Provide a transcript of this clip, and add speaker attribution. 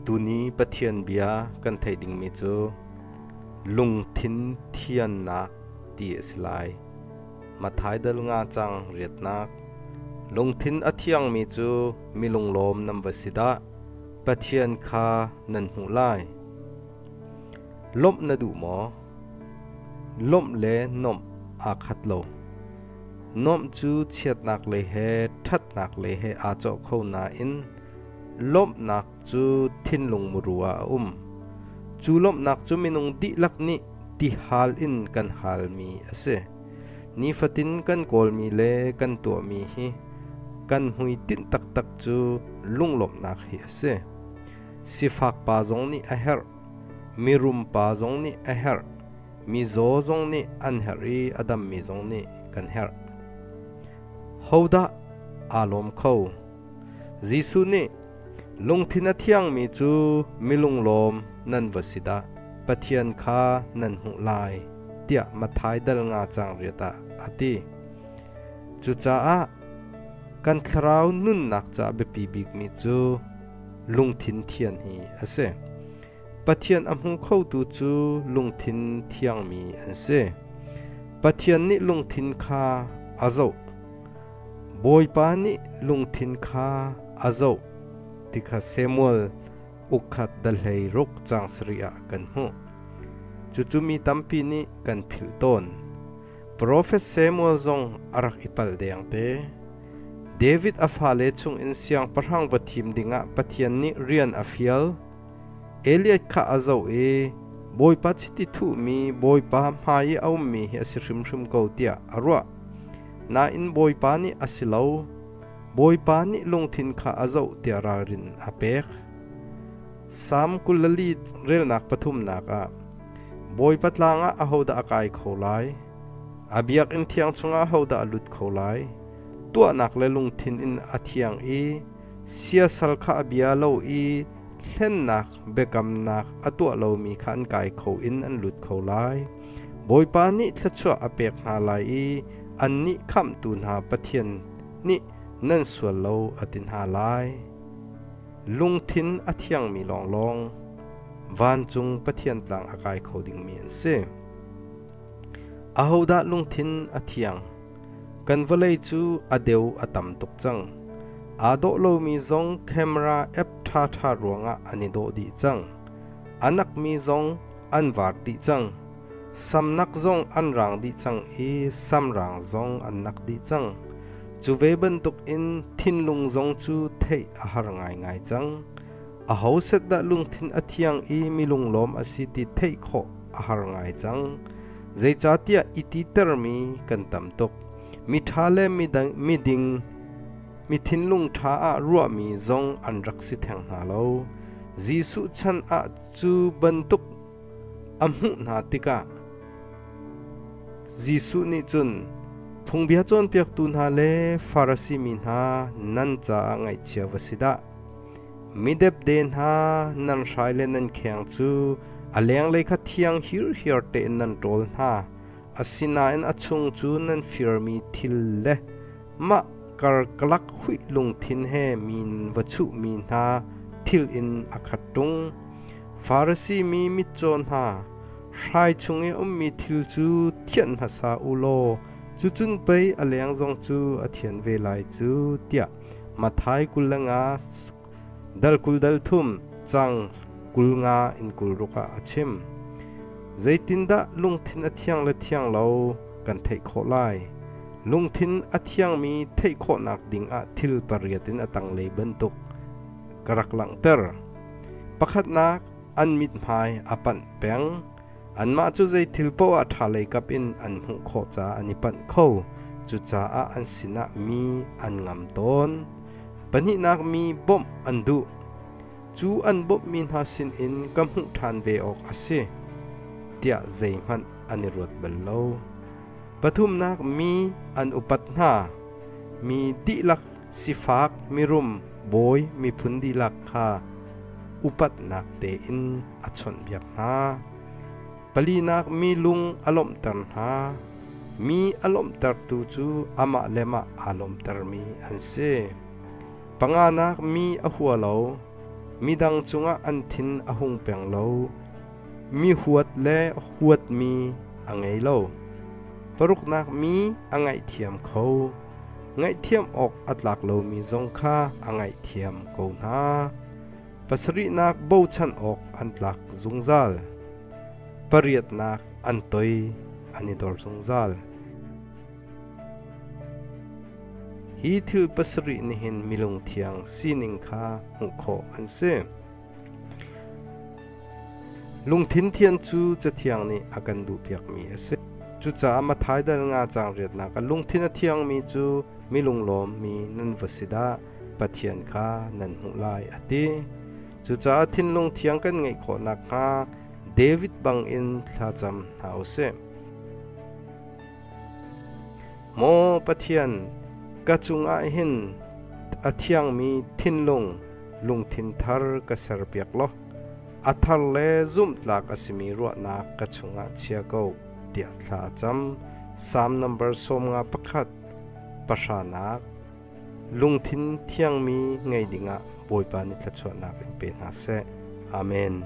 Speaker 1: Tuni Pathian bia kan theih dingmi cu lungthin thiannak ti a si lai. Matthai dal nga cang riatnak. Lungthin a thiangmi cu mi lunglawm nan va si dah! Pathian kha nan hmuh lai. Lawmh na duh maw? Lawmh le nomh aa khat lo. Nomh cu chiatnak le he ṭhatnak le he aa cawh kho nain lawmhnak cu thinlung muru ah a um. Cu lawmhnak cu minung dihlak nih tihal in kan halmi a si. Nifatin kan kawlmi le kan tuahmi hi kan hmuitinh taktak cu lunglawmhnak hi a si. Sifak pa zong nih a herh, mirum pa zong nih a herh, mizaw zong nih an herh i a dammi zong nih kan herh. Hodah aa lawm kho? Jesuh nih lungthin a thiangmi cu milunglawm nan va si dah, Pathian kha nan hmuh lai tiah Mathai dal nga cang riat ah a ti. Cucaah kan thlarau nunnak ca biapi bikmi cu lungthin thian hi a si. Pathian a hmu khotu cu lungthin thiangmi an si. Pathian nih lungthin kha a zoh. Bawipa nih lungthin kha a zoh ti kha Samuel ukhat dahlei ruk cang sarih ah kan hmuh. Cucu mi tampi nih kan philh tawn. Profet Samuel zong a rak i palh deng te. David a fale chungin siangpahrang va thim dingah Pathian nih rian a fial. Eliat kha a zoh i Bawipa chiti thuhmi Bawipa hmai i a ummi hi a si hrimhrim ko tiah a ruah. Nain Bawipa nih a si lo. Bawipa nih lungthin kha a zoh tiah ralrin a pek. Salm kul le li relnak pathumnak ah Bawipa tlang ah ahodah a kai kho lai? A biakinn thiang chungah ahodah a lut kho lai? Tuahnak le lungthin in a thiang i siasal kha a bia lo i hlennak biakamnak a tuah lomi kha an kai kho in an lut kho lai. Bawipa nih thluachuah a pek hna lai i annih khamhtu hna Pathian nih nan sual lo a ti hna lai. lungthin a thiangmi lawnglawng vancung Pathian tlang a kai kho dingmi an si. Ahodah lungthin a thiang? Kan vawlei cu a deu a tam tuk cang. Aa dawh lomi zong camera app ṭhaṭha ruangah an i dawh dih cang. A nakmi zong an vaar dih cang. Samnak zong an raang dih cang i samraang zong an nak dih cang. Cu ve bantuk in thinlung zong cu theih a har ngaingai cang. A ho set dah lungthin a thiang i milung lawm a si ti theih khawh a har ngai cang. Zeicahtiah i ti termi kan tam tuk. Mi ṭha le miding mi thinlung ṭha ah ruahmi zong an rak si theng hna lo. Jesuh chan ah Cu bantuk a hmuh hna tikah Jesuh nih cun phungbia cawnpiaktu hna le Farasi mi hna nan caah ngaihchia va si dah! Midepde hna nan hrai le nan kheng cu a lenglei kha thiang hirhiar tein nan ṭawl hna, asinain a chung cu nan firmi thil le Mah karkalak huih lungthin he min va chuhmi hna thil in a khat ṭung. Farasi mi mitcaw hna, hrai chung i ummi thil cu thianh hmasa u law cucun pei a leng zong cu a thian ve lai cu tiah Mathai kul le nga Dal kul dal thum cang kul nga in kul ruk ah a chim. Zeitindah lungthin a thiang le thiang lo kan theih khawh lai? Lungthin a thiangmi theih khawhnak ding ah thil pariat in a tanglei bantuk ka rak langhter. Pakhatnak, an mithmai a panh peng. Anmah cu zei thil paoh ah ṭhalei kap in an hmuh khawh caah an i panh kho. Cucaah an sinah mi an ngam tawn. Pahnihnak mi bawmh an duh. Cu an bawmhmi hna sinin ka hmuh ṭhan ve awk a si tiah zeihmanh an i ruat bal lo. Pathumnak mi an upat hna. Mi dihlak sifak, mirum, bawi, miphun dihlak kha upatnak tein a chawnhbiak hna. Palinak mi lung a lawmhter hna. Mi a lawmhtertu cu amah le mah aa lawmhtermi an si. Panganak mi a hua lo. Midang cungah an thin a hung peng lo. Mi huat le huatmi a ngei lo. Paruknak mi a ngaihthiam kho. Ngaihthiam awk a tlak lomi zong kha a ngaihthiam ko hna. pasarihnak bochan awk an tlak zungzal. Pariatnak an toi an i dor zungzal. Hi thil pasarih nihin milung thiang sining kha hmuh khawh an si. Lungthin thian cu cathiang nih a kan duhpiakmi a si. Cucaah Mathaidal nga cang riatnak a lungthin a thiangmi cu milunglawm mi nan va si dah. Pathian kha nan hmuh lai a ti. Cucaah thinlung thiang kan ngeih khawh nakhnga David bangin thlacam hna u sih. Maw Pathian, ka cungah hin a thiangmi thinlung lungthin thar ka serpiak law a thar le zumhtlak a simi ruahnak ka chungah chia ko tiah thla cam. Psalm number sawm nga pakhat pahranak Lungthin thiangmi ngei dingah Bawipa nih thluachuahnak in pe hna seh. Amen.